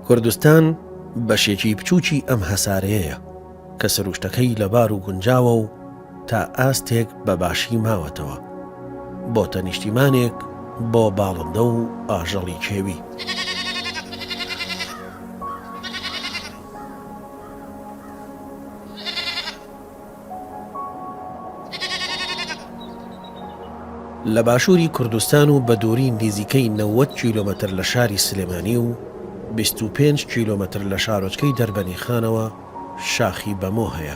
کوردستان بەشێکی بچووکی ئەم هەسارەیەیە کە سروشتەکەی لەبار و گونجاوە و، تا ئاستێک بە باشی ماوەتەوە. بۆتە نیشتیمانێک بۆ باڵندە و ئاژەڵی کێوی. لە باشووری کوردستان و بە دووری نیزیکەی نەوەد کیلۆمەتر لە شاری سلێمانی و بیست و پێنج کیلۆمەتر لە شارۆچکەی دەربەنیخانەوە شاخی بەمۆ هەیە.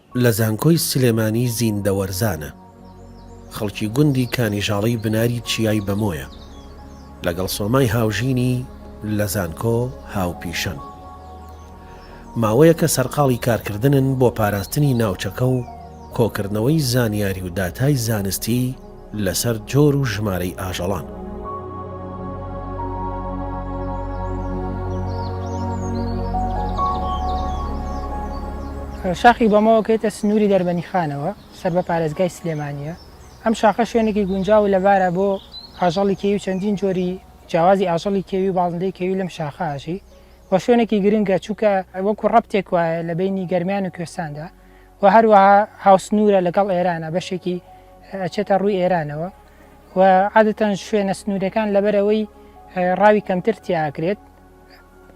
لە زانکۆی سلێمانی زیندەوەرزانە. خەڵکی گوندی کانیژاڵی بناری چیای بەمۆیە. لەگەڵ سۆمای هاوژینی لە زانکۆ هاوپیشەن. ماوەیەکە سەرقاڵی کارکردنن بۆ پاراستنی ناوچەکە و کۆکردنەوەی زانیاری و داتای زانستی، لەسەر جۆر و ژمارەی ئاژەڵان. شاخی بەمەوە کەیتە سنووری دەربەنیخانەوە سەر بە پارێزگای سلێمانییە، ئەم شاخە شوێنێکی گونجاو و لەبارە بۆ ئاژەڵی کێوی و چەندین جۆری جیاوازی ئاژەڵی کێوی و باڵندەی کێوی لەم شاخە ئاژی و شوێنێکی گرنگە چونکە وەکو ڕەپتێک وایە لە بەینی گەرمیان و کوێستاندا و هەروەها هاوسنوورە لەگەڵ ئێرانە بەشێکی ئەچێتە ڕووی ئێرانەوە و عادەتەن شوێنە سنوورەکان لەبەرەوەی ڕاوی کەمتر تیاکرێت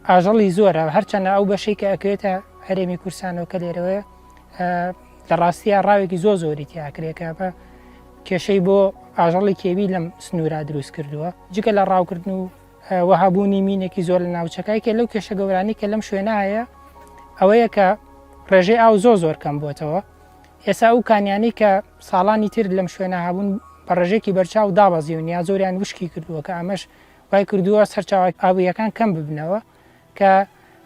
ئاژەڵی زۆرە هەرچەنە ئەو بەشەی کە ئەکرێتە هەرێمی کورسانەوە کە لێرەوەی لە ڕاستیە ڕاوێکی زۆ زۆری تیاکرێکە بە کێشەی بۆ ئاژەڵی کێوی لەم سنوورا دروست کردووە جگە لە ڕاوکردن و وەها بوونی مینێکی زۆر لە ناوچەکە یەکێ لەو کێشە گەورانی کە لەم شوێنە هەیە ئەوەیە کە ڕێژەی ئاو زۆر زۆر کەم بووتەوە ئێسا ئەو کانیانی کە ساڵانی تر لەم شوێنە هەبوون بە ڕێژێکی بەرچاو دابەزیون یا زۆریان وشکی کردووە کە ئەمەش وای کردووە سەرچاوای ئاوییەکان کەم ببنەوە کە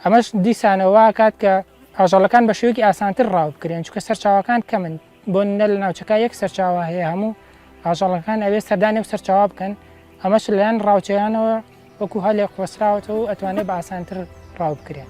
ئەمەش دیسانەوە وا ئەکات کە ئاژەڵەکان بە شێوەیەکی ئاسانتر ڕاو بکرێن، چونکە سەرچاوەکان کەمن، بۆ نمونە لە ناوچەکە یەک سەرچاوە هەیە هەموو ئاژەڵەکان ئەوێ سەردانی ئەو سەرچاوە بکەن، ئەمەش لەلایەن ڕاوچیانەوە وەکو هەلێک قۆستراوەتەوە و ئەتوانێ بە ئاسانتر ڕاو بکرێن.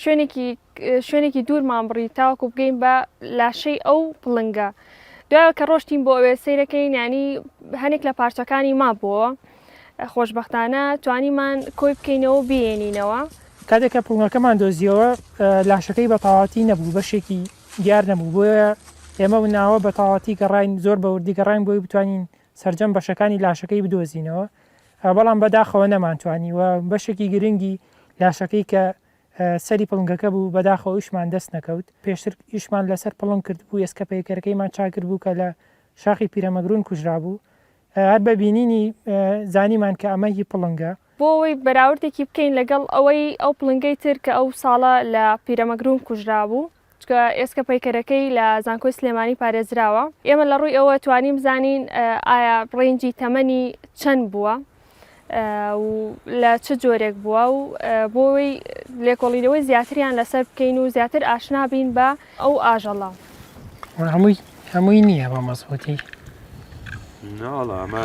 شوێنێکی شوێنێکی دوورمان بڕی تاوەکو بگەین بە لاشەی ئەو پڵنگە دوای کە ڕۆشتین بۆ ئەوێ سیرەکەی نانی هەنێک لە پارچەکانی مابووەوە خۆشببختانە توانیمان کۆی بکەینەوە بێنینەوە کاتێک کە پڵنگەکەمان دۆزیەوە لاشەکەی بە تەواتی نەبوو بەشێکی دیار نەبوو بۆیە ئێمە و ناوە بە تەواتی گەڕین زۆر بەوردی گەڕین بۆی بتوانین سرجەم بەشەکانی لاشەکەی بدۆزینەوە بەڵام بەداخەوە نەمانتوانی و بەشێکی گرنگی لاشەکەی کە سەری پڵنگەکە بوو بەداخەوە ئیشمان دەست نەکەوت، پێشتر ئیشمان لەسەر پڵنگ کردبوو ئێسکە پەیکەرەکەیمان چاکردبوو کە لە شاخی پیرەمەگرون کوژرابوو، هەر بە بینینی زانیمان کە ئەمە هی پڵنگە. بۆ ئەوەی بەراوردێکی بکەین لەگەڵ ئەوەی ئەو پڵنگەی تر کە ئەو ساڵە لە پیرەمەگرون کوژرابوو، چونکە ئێسکە پەیکەرەکەی لە زانکۆی سلێمانی پارێزراوە ئێمە لە ڕووی ئەوە توانیم زانین ئایا ڕێنجی تەمەنی چەند بووە لە چ جۆرێک بووە و بۆی لێکۆڵینەوەی زیاتریان لەسەر بکەین و زیاتر ئاشنا بین بە ئەو ئاژەڵە هەمووی هەمووی نییە بە مەزبوتی ناڵە ئەمە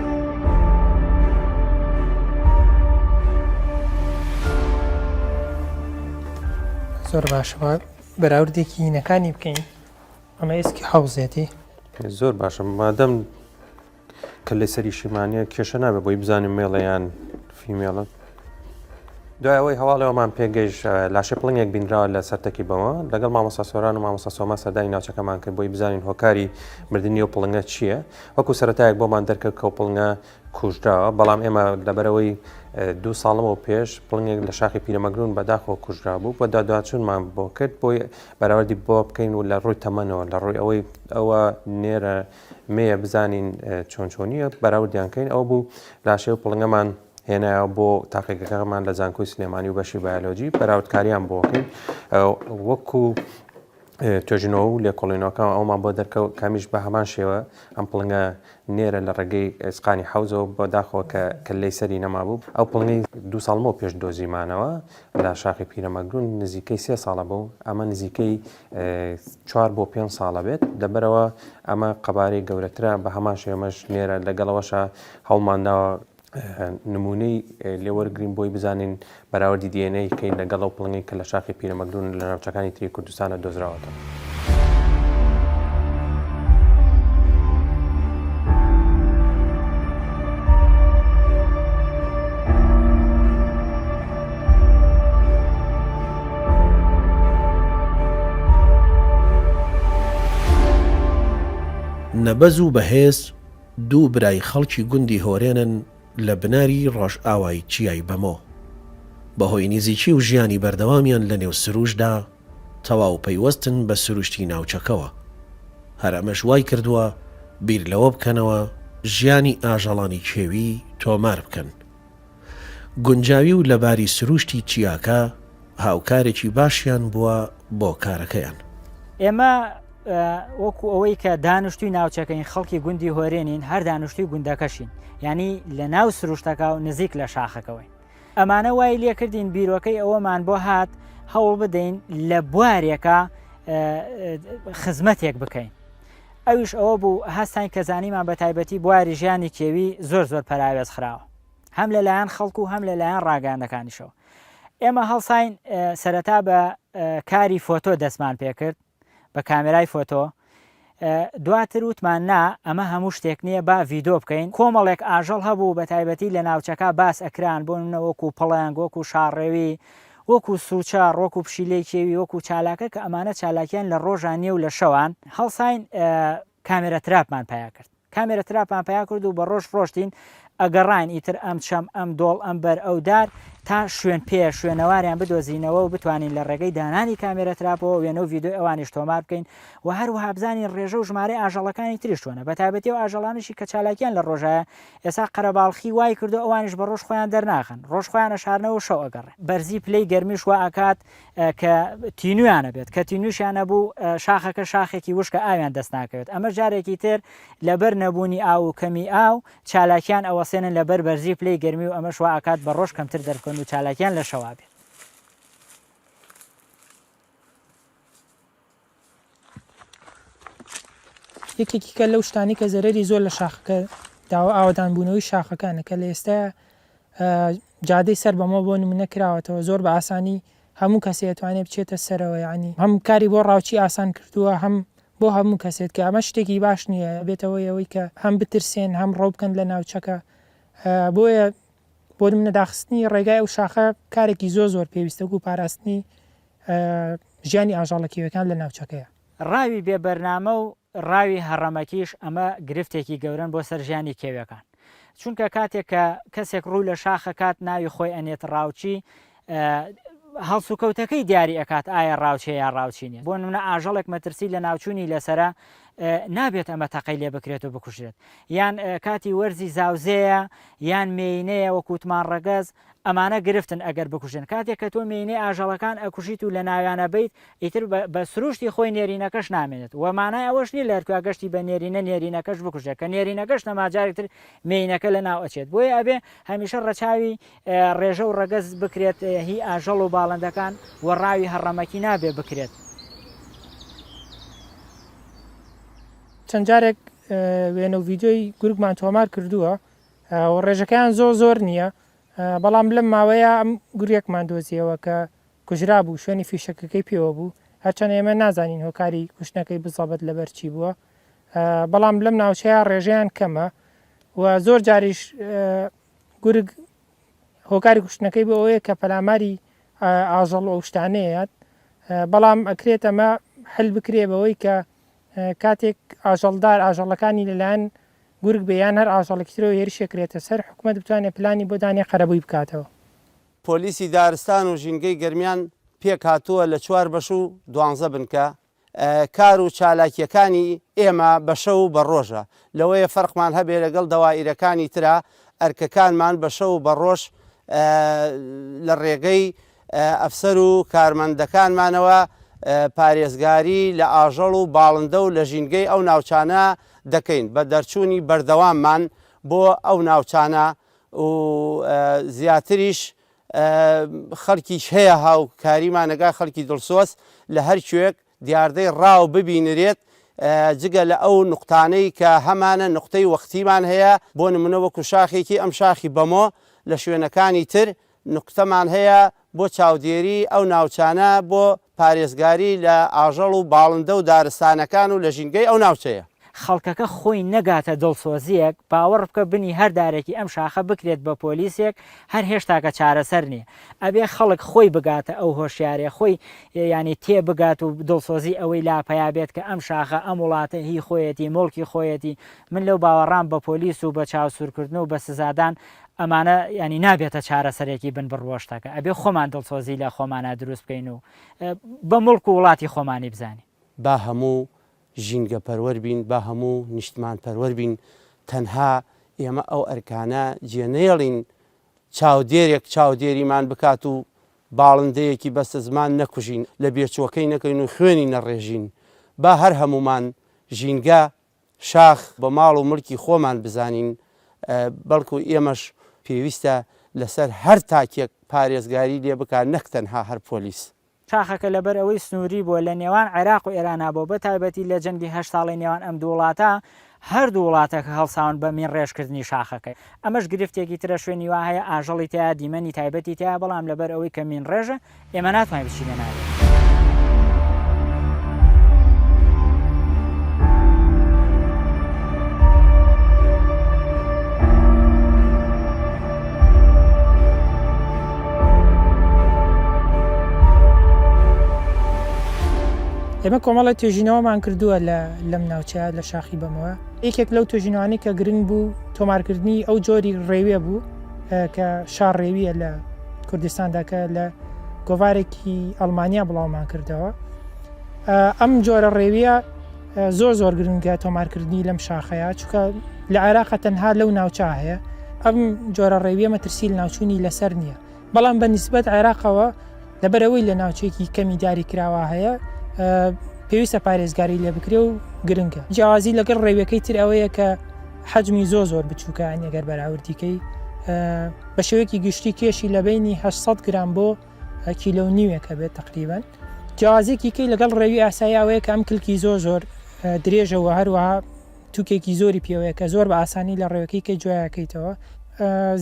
زۆر باشەوە بەراوردێکی هینەکانی بکەین ئەمە ئێسکی حوزێتی زۆر باشە مادەم کە لە سەری شیمانە کێشە نابێ بۆی بزانین مێڵەیان فیمێڵە دوای ئەوەی هەواڵەوەمان پێگەیش لاشە پڵنگێک بینراوە لە سەرتەکی بەوە لەگەڵ مامۆسا سۆران و مامۆسا سۆما سەدای ناوچەکەمان کرد بۆی بزانین هۆکاری مردنی و پڵنگە چییە؟ وەکو سەرەتایەک بۆمان دەرکەوت کە پڵنگە کوژراوە، بەڵام ئێمە لەبەرەوەی دوو ساڵەوە پێش پڵنگێک لە شاخی پیرەمەگرون بەداخەوە کوژرا بوو و دادواچونمان بۆ کرد بۆی بەراوردی بۆ بکەین و لە ڕووی تەمەنەوە لە ڕووی ئەوەی ئەوە نێرە مێیە بزانین چۆن چۆنیە بەراوردیان کەین ئەو بوو لاشێ و پڵنگەمان هێنایەوە بۆ تاقیگەکەمان لە زانکۆی سلێمانی و بەشی بایۆلۆجی بەراوردکاریان بۆکەین وەکو توێژینەوە و لێکۆڵینەوەکان ئەوەمان بۆ دەرکەوت کە ئەمیش بە هەمان شێوە ئەم پڵنگە نێرە لە ڕێگەی ئێسقانی حەوزەوە بە داخەوە کە کەللەی سەری نەمابوو، ئەو پڵنگەی دوو ساڵ لەمەو پێش دۆزیمانەوە لە شاخی پیرەمەگروون نزیکەی سێ ساڵە بوو، ئەمە نزیکەی چوار بۆ پێنج ساڵە بێت، لەبەرئەوە ئەمە قەبارەی گەورەترە، بە هەمان شێوەش نێرە، لەگەڵ ئەوەشا هەوڵمانداوە نموونەی لێ وەرگرین بۆی بزانین بەراوردی دی ئێن ئەی بکەین لەگەڵ ئەو پڵنگەی کە لە شاخی پیرەمەگرون لە ناوچەکانی تری کوردستانە دۆزراوەتەوە. نەبەز و بەهێز دوو برای خەڵکی گوندی هۆرێنن لە بناری ڕۆژئاوای چیای بەمۆ، بەهۆی نیزیکی و ژیانی بەردەوامیان لە نێو سروشدا، تەواو پەیوەستن بە سروشتی ناوچەکەوە. هەر ئەمەش وای کردووە بیر لەوە بکەنەوە ژیانی ئاژەڵانی کێوی تۆمار بکەن. گونجاوی و لەباری سرووشتی چیاکە هاوکارێکی باشیان بووە بۆ کارەکەیان. ئێمە وەکو ئەوەی کە دانیشتوی ناوچەکەین خەڵکی گوندی هۆرێنین هەر دانیشتوی گوندەکەشین یعنی لە ناو سروشتەکە و نزیک لە شاخەکەوەین ئەمانە وای لێکردین بیرۆکەی ئەوەمان بۆ هات هەوڵ بدەین لە بوارێکە خزمەتێک بکەین ئەوش ئەوە بوو هەستان کە زانیمان بە تایبەتی بواری ژیانی کێوی زۆر زۆر پەراوێز خراوە هەم لە لایەن خەڵک و هەم لە لایەن ڕاگەاندەکانیشەوە ئێمە هەڵساین سەرەتا بە کاری فۆتۆ دەستمان پێکرد بە کامێرای فۆتۆ دواتر وتمان نا ئەمە هەموو شتێک نییە با ڤیدۆ بکەین کۆمەڵێک ئاژەڵ هەبوو بە تایبەتی لە ناوچەکە باس ئەکران بۆ منە وەکو پڵنگ وەکو شاڕێوی وەکو سوچە ڕۆک و پشیلەی کێوی وەکو چالاکە کە ئەمانە چالاکیان لە ڕۆژانیە و لە شەوان هەڵساین کامێرا تراپمان پەیا کرد کامێرا تراپمان پەیا کرد و بە ڕۆژ ڕۆشتین ئەگەڕاین ئیتر ئەم چەم ئەم دۆڵ ئەم بەر ئەو دار تا شوێن پێ شوێنەواریان بدۆزینەوە و بتوانین لە ڕێگەی دانانی کامێرە تراپەوە وێنە و ویددیو ئەوانیش تۆمار بکەین و هەروەها بزانین ڕێژە و ژمارە ئاژەڵەکانی تریش چۆنە بە تابەتی و ئاژەڵانشی کە چالاکیان لە ڕۆژایە ئێسا قەرەباڵخی وای کردو ئەوانش بە ڕۆژ خۆیان دەرناخن ڕۆژ خۆیانە شارنەوە شەو ئەگەڕێ بەرزی پلەی گەرمیش وائەکات کە تینویان نەبێت، کە تینوشیان نەبوو شاخەکە شاخێکی وشکە ئاویان دەست ناکەوێت، ئەمەش جارێکی تر لەبەر نەبوونی ئاو و کەمی ئاو چالاکیان ئەوەسێنن لەبەر بەرزی پلەی گەرمی و ئەمەش وا ئەکات بە ڕۆژ کەمتر دەربکەون و چالاکیان لە شەوا بێت. یەکێکی کە لەو شتانی کە زەرەری زۆر لە شاخەکە داوە ئاوادان بوونەوەی شاخەکانە کە لە ئێستا جادەی سەر بەمە بۆ نمونە کراوەتەوە زۆر بە ئاسانی هەموو کەسێت توانێت بچێتە سەرەوە ینی هەم کاری بۆ ڕاوچی ئاسان کردووە هەم بۆ هەموو کەسێت کە ئەمە شتێکی باش نییە بێتەوە ئەوەی کە هەم بترسێن هەم ڕۆبکەن لە ناوچەکە بۆیە بۆ منە داخستنی ڕێگای ئەو شاخە کارێکی زۆ زۆر پێویستە و پاراستنی ژیانی ئاژەڵە کێویەکان لە ناوچەکەیە. ڕاوی بێ بەرنامە و ڕاوی هەڕەمەکیش ئەمە گرفتێکی گەورەن بۆ سەر ژیانی کێویەکان چونکە کاتێک کە کەسێک ڕوو لە شاخەکات ناوی خۆی ئەنێت ڕاوچی هەڵسوکەوتەکەی دیاری ئەکات ئایا ڕاوچێ یا ڕاوچینێ بۆ نمونە ئاژەڵێک مەترسی لە ناوچوونی لەسرە نابێت ئەمە تەقەی لێ بکرێت و بکوژێت یان کاتی وەرزی زاوزەیە یان مێینەیە وەکووتمان ڕەگەز ئەمانە گرفتن ئەگەر بکوژێن کاتێک کە تۆ مێینەی ئاژەڵەکان ئەکوژیت و لەناویان ئەبەیت ئیتر بە سروشتی خۆی نێرینەکەش نامێنێت وە مانای ئەوەش نیە لەرکا گەشتی بە نێرینە نێرینەکەش بکوژێت کە نێرینەکەش نەما جارێک تر مێینەکە لەناو ئەچێت بۆیە ئەبێ هەمیشە ڕەچاوی ڕێژە و ڕەگەز بکرێت هی ئاژەڵ و باڵندەکان و ڕاوی هەڕەمەکی نابێ بکرێت. چەند جارێک وێنە و ڤیدیۆی گورگمان تۆمار کردووە، و ڕێژەکەیان زۆر زۆر نییە، بەڵام لەم ماوەیە ئەم گورگێکمان دۆزییەوە کە کوژرابوو، شوێنی فیشەکەکەی پێوە بوو، هەرچەندە ئێمە نازانین هۆکاری کوشتنەکەی بزەبەت لەبەر چی بووە، بەڵام لەم ناوچەیە ڕێژەیان کەمە و زۆر جاریش گورگ هۆکاری کوشتنەکەی بۆ ئەوەیە کە پەلاماری ئاژەڵ و ئەو شتانەیەت، بەڵام ئەکرێت ئەمە حل بکرێ بەوەی کە کاتێک ئاژەڵدار ئاژەڵەکانی لەلایەن گورگ بێ یان هەر ئاژەڵێکی ترەوە هێرشێک کرێتە سەر، حکومەت بتوانێت پلانی بۆ دانێ قەرەبووی بکاتەوە. پۆلیسی دارستان و ژینگەی گەرمیان پێکهاتووە لە چوار بەش و دوانزە بنکە، کار و چالاکییەکانی ئێمە بە شەو و بە ڕۆژە، لەوەیە فەرقمان هەبێ لەگەڵ دەوائیرەکانی ترا، ئەرکەکانمان بە شەو و بە ڕۆژ لە ڕێگەی ئەفسەر و کارمەندەکانمانەوە پارێزگاری لە ئاژەڵ و باڵندە و لە ژینگەی ئەو ناوچانە دەکەین بە دەرچوونی بەردەواممان بۆ ئەو ناوچانە و زیاتریش خەڵکیش هەیە هاوکاریمانەگا خەڵکی دڵسۆز لە هەرکوێک دیاردەی ڕاو ببینرێت جگە لە ئەو نوقتانەی کە هەمانە نوقتەی وەختیمان هەیە بۆ نمونە وەکو شاخێکی ئەم شاخی بەمۆ لە شوێنەکانی تر نوقتەمان هەیە بۆ چاودێری ئەو ناوچانە بۆ پارێزگاری لە ئاژەڵ و باڵندە و دارستانەکان و لە ژینگەی ئەو ناوچەیە. خەڵکەکە خۆی نەگاتە دڵسۆزیەک باوەڕبکە بنی هەر دارێکی ئەم شاخە بکرێت بە پۆلیسێک هەر هێشتاکە چارەسەر نیە ئەبێ خەڵک خۆی بگاتە ئەو هۆشیارێ خۆی یانی تێ بگات و دڵسۆزی ئەوەی لا پەیا بێت کە ئەم شاخە ئەم وڵاتە هی خۆیەتی موڵکی خۆیەتی من لەو باوەڕام بە پۆلیس و بە چاوسورکردن و بە سزادان ئەمانە یانی نابێتە چارەسەرێکی بن بڕ بۆ شتەکە ئەبێ خۆمان دڵسۆزی لە خۆمانا دروست بکەین و بە موڵک و وڵاتی خۆمانی بزانین. با هەموو ژینگە پەروەر بین با هەموو نیشتمان پەروەر بین تەنها ئێمە ئەو ئەرکانە جێ نەیەڵین چاودێرێک چاودێریمان بکات و باڵندەیەکی بەستە زمان نەکوژین لە بێچوەکەی نەکەین و خوێنی نەڕێژین با هەر هەمومان ژینگە شاخ بە ماڵ و ملکی خۆمان بزانین بەڵکو ئێمەش پێویستە لەسەر هەر تاکێک پارێزگاری لێ بکات نەک تەنها هەر پۆلیس شاخەکە لەبەر ئەوەی سنووری بووە لە نێوان عێراق و ئێرانا بۆ بە تایبەتی لە جەنگی هەشت ساڵەی نێوان ئەم دوو وڵاتە هەردوو وڵاتەکە هەڵساون بە مین ڕێژ کردنی شاخەکەی ئەمەش گرفتێکی ترە شوێنی وا هەیە ئاژەڵی تیا دیمەنی تایبەتی تیا بەڵام لەبەر ئەوەی کە مین ڕێژە ئێمە ناتوانین بچینە ناوێ. ئێمە کۆمەڵی توێژینەوەمان کردووە لە لەم ناوچەیە لە شاخی بەمەوە یەکێک لەو توێژینەوانی کە گرنگ بوو تۆمارکردنی ئەو جۆری ڕێوێ بوو کە شارڕێویە لە کوردستانداکە لە گۆوارێکی ئەلمانیا بڵاومان کردەوە ئەم جۆرە ڕێویە زۆر زۆر گرنگە تۆمارکردنی لەم شاخەیە چکە لە عێراقە تەنها لەو ناوچە هەیە ئەم جۆرە ڕێویە مەترسیل ناوچوونی لەسەر نییە بەڵام بە نسبەت عێراقەوە لەبەرەوەی لە ناوچێکی کەمی داری کراوە هەیە پێویستە پارێزگاری لێ بکرێ و گرنگە جیازی لەگەڵ ڕێویەکەی تر ئەوەیە کە حەجمی زۆ زۆر بچووکان ئەگەر بەراوردیکەی بە شێوەیەکی گشتی کێشی لە بینی 600 گرام بۆ هە کیلۆ و نیوێک هەبێت تەقریبەن. جیاوازیەکی کەی لەگەڵ ڕێوی ئاسایی ئەوەیە کە ئەم کلکی زۆر زۆر درێژە و هەروەها توکێکی زۆری پێوەیە کە زۆر بە ئاسانی لە ڕێوەکەی کەی جویاکەیتەوە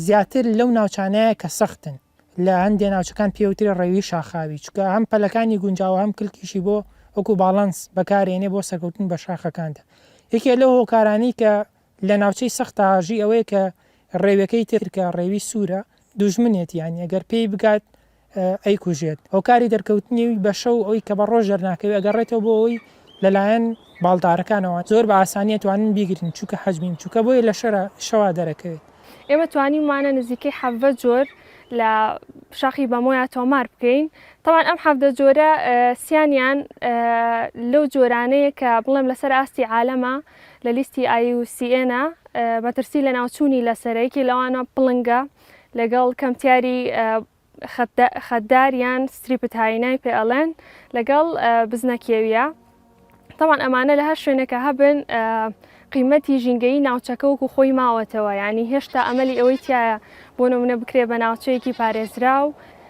زیاتر لەو ناوچانەیە کە سەختن لە هەندێ ناوچەکان پێوترێ ڕێوی شاخاوی چکە هەم پەلەکانی گونجاوە هەم کلکیشی بۆ وەکو باڵانس بەکارێنێ بۆ سەرکەوتن بە شاخەکاندا یەکێ لەو هۆکارانی کە لە ناوچەی سەختە ئاژی ئەوەیە کە ڕێوێکەی تر کە ڕێوی سوورە دوژمنێتی یانی ئەگەر پێی بگات ئەیکوژێت هۆکاری دەرکەوتنی بە شەو ئەوی کە بە ڕۆژ دەرناکەوێت ئەگەڕێتەوە بۆ ئەوی لەلایەن باڵدارەکانەوە زۆر بە ئاسانی ئەتوانن بیگرن چونکە حەجمی بچووکە بۆیە لە شەرا شەوا دەرەکەوێت. ئێمە توانیومانە نزیکەی حەڤدە جۆر لە شاخی بەمۆیا تۆمار بکەین تەوان ئەم حەڤدە جۆرە سیانیان لەو جۆرانەیە کە بڵێم لەسەر ئاستی عالەمە لە لیستی ئای یو سی ئێنە مەترسی لەناوچوونی لەسەرە یەکێ لەوانە پڵنگە لەگەڵ کەمتیاری خەتدار یان ستریپتاینای پێ ئەڵێن لەگەڵ بزنە کێویە تاوان ئەمانە لە هەر شوێنێکە هەبن قیمەتی ژینگەی ناوچەکە وەکو خۆی ماوەتەوە ینی هێشتا ئەمەلی ئەوەی تایە بۆ نمونە بکرێ بە ناوچەیەکی پارێزراو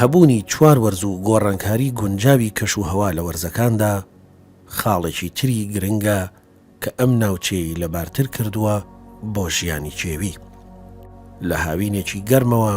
هەبوونی چوار وەرز و گۆڕانکاری گونجاوی کەش و هەوا لە وەرزەکاندا خاڵێکی تری گرنگە کە ئەم ناوچەیەی لەبارتر کردووە بۆ ژیانی کێوی. لە هاوینێکی گەرمەوە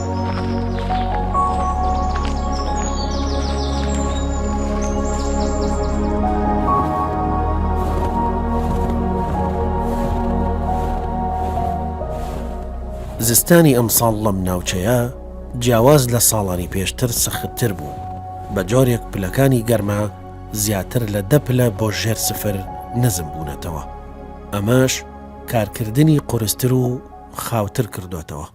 زستانی ئەمساڵ لەم ناوچەیە جیاواز لە ساڵانی پێشتر سەختتر بوو بە جۆرێک پلەکانی گەرما زیاتر لە دە پلە بۆ ژێر سفر نزم بوونەتەوە ئەمەش کارکردنی قورستر و خاوتر کردوێتەوە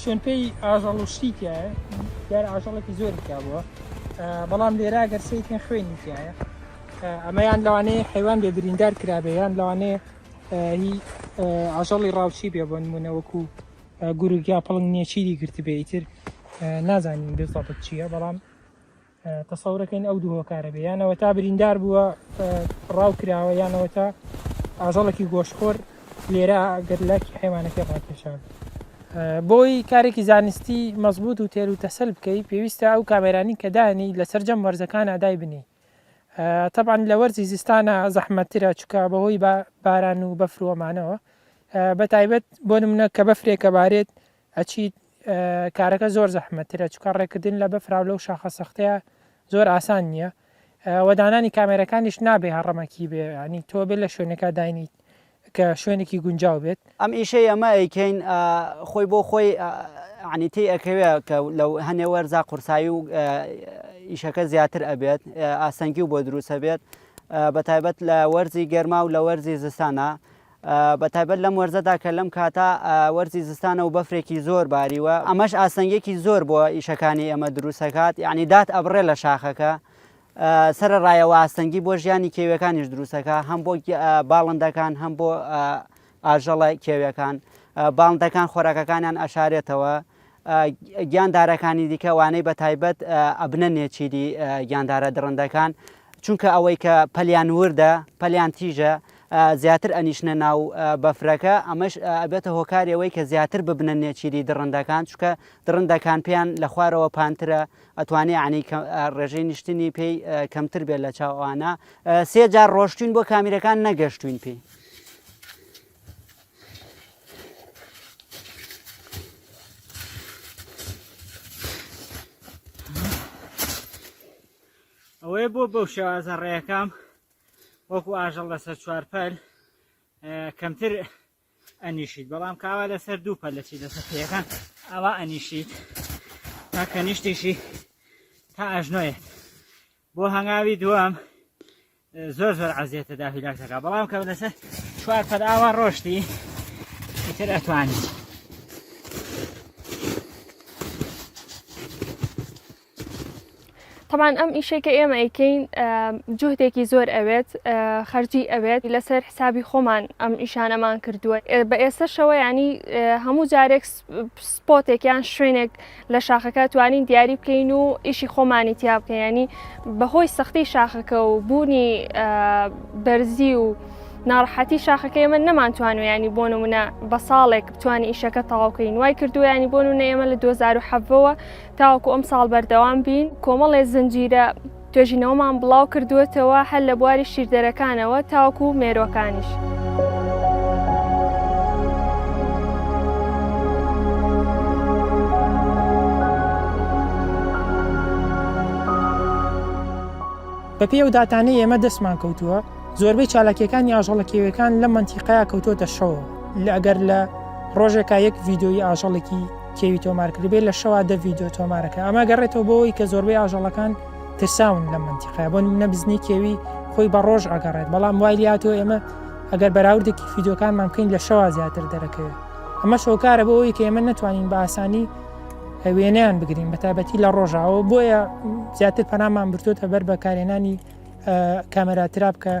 شوێنپێی ئاژەڵ و شتی تایە دیارە ئاژەڵێکی زۆری تیا بووە بەڵام لێرا گەر سیکن خوێنی تایە ئەمەیان لەوانەیە حیوان بێ بریندار کرابێ یان لەوانەیە هی ئاژەڵی ڕاوچی بێ بۆ نمونە وەکو گورگیا پڵنگ نیەچیری گرتبێ ئیتر نازانین بێزڵبت چییە بەڵام تەسەورەکەین ئەو دوو هۆکارە بێ یانەوە تا بریندار بووە ڕاو کراوە یانەوە تا ئاژەڵێکی گۆشخۆر لێرە گەر لاکی حیوانەکە ڕاکێشان بۆی کارێکی زانستی مەزبوط و تێر و تەسەل بکەی پێویستە ئەو کامێرانی کە دانی لە سەررجەم وەرزەکان ئادای بنی طبعاان لە وەرزی زستانە زەحمەترە چکە بەهۆی باران و بەفروەمانەوە بە تایبەت بۆ منە کە بەفرێکە بارێت ئەچیت کارەکە زۆر زەحمەت ترە چونکە ڕێکردن لە بەفرا و لەو شاخە سەختەیە زۆر ئاسان نییە وە دانانی کامێرەکانیش نابێ هەڕەمەکی بێ ینی تۆ بێ لە شوێنەکە داینیت کە شوێنێکی گونجاو بێت ئەم ئیشەی ئەمە ئەیکەین خۆی بۆ خۆی عنی تی ئەکەوێ کە لەو هەنێ وەرزا قورسایی و ئیشەکە زیاتر ئەبێت ئاسەنگی و بۆ دروستە بێت بە تایبەت لە وەرزی گەرما و لە وەرزی زستانە بە تایبەت لەم وەرزەدا کە لەم کاتە وەرزی زستانە و بەفرێکی زۆر باریوە ئەمەش ئاستەنگێکی زۆر بۆ ئیشەکانی ئێمە دروستەکات یعنی دات ئەبڕێ لە شاخەکە سرە ڕایەوە ئاستەنگی بۆ ژیانی کێویەکانیش دروستەکە هەم بۆ باڵندەکان هەم بۆ ئاژەڵە کێویەکان باڵندەکان خۆراکەکانیان ئەشارێتەوە گیاندارەکانی دیکە وانەی بەتایبەت ئەبنە نێچیری گیاندارە دڕندەکان چونکە ئەوەی کە پەلیان وردە پەلیان تیژە زیاتر ئەنیشنە ناو بەفرەکە ئەمەش ئەبێتە هۆکارەوەی کە زیاتر ببنە نێچیری دڕندەکان چکە دڕندەکان پێیان لە خوارەوە پانترە ئەتوانێ عنی ڕێژەی نیشتنی پێی کەمتر بێت لە چاوانە سێجار ڕۆشتین بۆ کامیرەکان نەگەشتوین پێی ئەوەیە بۆ بەو شێوازە ڕێەکەم وەکو ئاژەڵ لەسەر چوارپەل کەمتر ئەنیشیت بەڵام کاوا لەسەر دوو پەل لەچی لەسەر پێەکان ئەوە ئەنیشیت تاکە نیشتیشی تا ئەژنۆیت بۆ هەنگاوی دووەم زۆر زۆر عزیێتە دا هیلاک دەکا بەڵام کە لەسە چوار پەر ئاوا ڕۆشتی تر ئەتوانی طبعاان ئەم ئیشێکە ئێمە ئەیکەین جوهدێکی زۆر ئەوێت خەرجی ئەوێت لەسەر حسابی خۆمان ئەم ئیشانەمان کردووە بە ئێستا شەوە ینی هەموو جارێک سپۆتێک یان شوێنێک لە شاخەکە توانین دیاری بکەین و ئیشی خۆمانی تیا بکەین ینی بەهۆی سەختی شاخەکە و بوونی بەرزی و ناڕحەتی شاخەکە ئێمە نەمانتوانو ینی بۆ نمونە بە ساڵێک بتوانین ئیشەکە تەواوکەین وای کردو ینی بۆن و نەێمە لە 2010ەوە تاوەکو ئەم ساڵ بەردەوام بین کۆمەڵێ زنجیرە توێژینەوەمان بڵاو کردووەتەوە هەر لە بواری شیردەرەکانەوە تاوەکو مێرووەکانیش. بەپێی ئەو داتانەی ئێمە دەستمان کەوتووە، زۆربەی چالاکییەکانی ئاژەڵە کێویەکان لەم مەنتیقەیە کەوتووەتە شەوەوە، لە ئەگەر لە ڕۆژێکا یەک ڤیدیۆیی ئاژەڵێکی. کێوی تۆمار کردبێت لە شەوا دە ڤیددیو تۆمارەکە ئەمە گەڕێتەوە بۆەوەی کە زۆربەی ئاژەڵەکان ترساون لە منتیقای بۆ نمونە بزنی کێوی خۆی بە ڕۆژ ئەگەڕێت بەڵام وای لاتۆ ئێمە ئەگەر بەراوردێکی فیدۆکانمان بکەین لە شەوا زیاتر دەرەکەوێت ئەمە شۆکارە بۆ ئەوی کە ئێمە نتوانین بە ئاسانی وێنیان بگرین بە تابەتی لە ڕۆژاوە بۆیە زیاتر پەنامان برتۆتە بەر بەکارێنانی کامەراترا بکە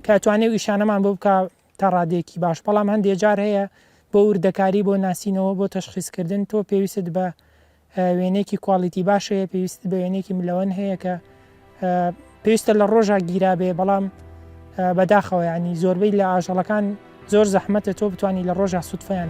کاتوانێ و ئیشانەمان بۆ بکە تا ڕادەیەکی باش بەڵام هەندێ جار هەیە بۆ وردەکاری بۆ ناسینەوە بۆ تەشخیس کردن تۆ پێویستت بە وێنەیەکی کوالیتی باش هەیە پێویست بە وێنێکی ملەوەن هەیە کە پێویستە لە ڕۆژا گیرابێ بەڵام بەداخەوە ینی زۆربەی لە ئاژەڵەکان زۆر زەحمەتە تۆ بتانی لە ڕۆژە سوودفیان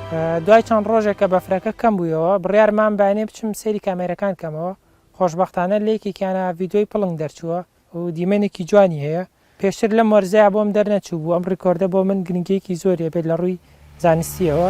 دوای چەند ڕۆژێک کە بەفرەکە کەم بوویەوە، بڕیارمام بایەنێ بچم سەیری کامێرەکان کەمەوە، خۆشبەختانە لە یەکێکیانا ڤیدۆی پڵنگ دەرچووە و دیمەنێکی جوانی هەیە، پێشتر لەم وەرزەیا بۆم دەرنەچووبوو، ئەم ڕیکۆردە بۆ من گرنگییەکی زۆری هەبێت لە ڕووی زانستییەوە.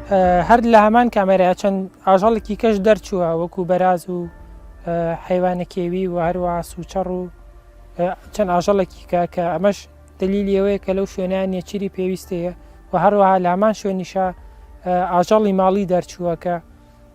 هەر لە هەمان کامێرایە چەند ئاژەڵێکی کەش دەرچووە وەکو بەراز و حیوانە کێوی و هەروە سوچەڕ و چەند ئاژەڵێکی کە کە ئەمەش دلیلی ئەوەیە کە لەو شوێنیان نیەچری پێویستەیە و هەروەها لامان شوێنیشە ئاژەڵی ماڵی دەرچووەکە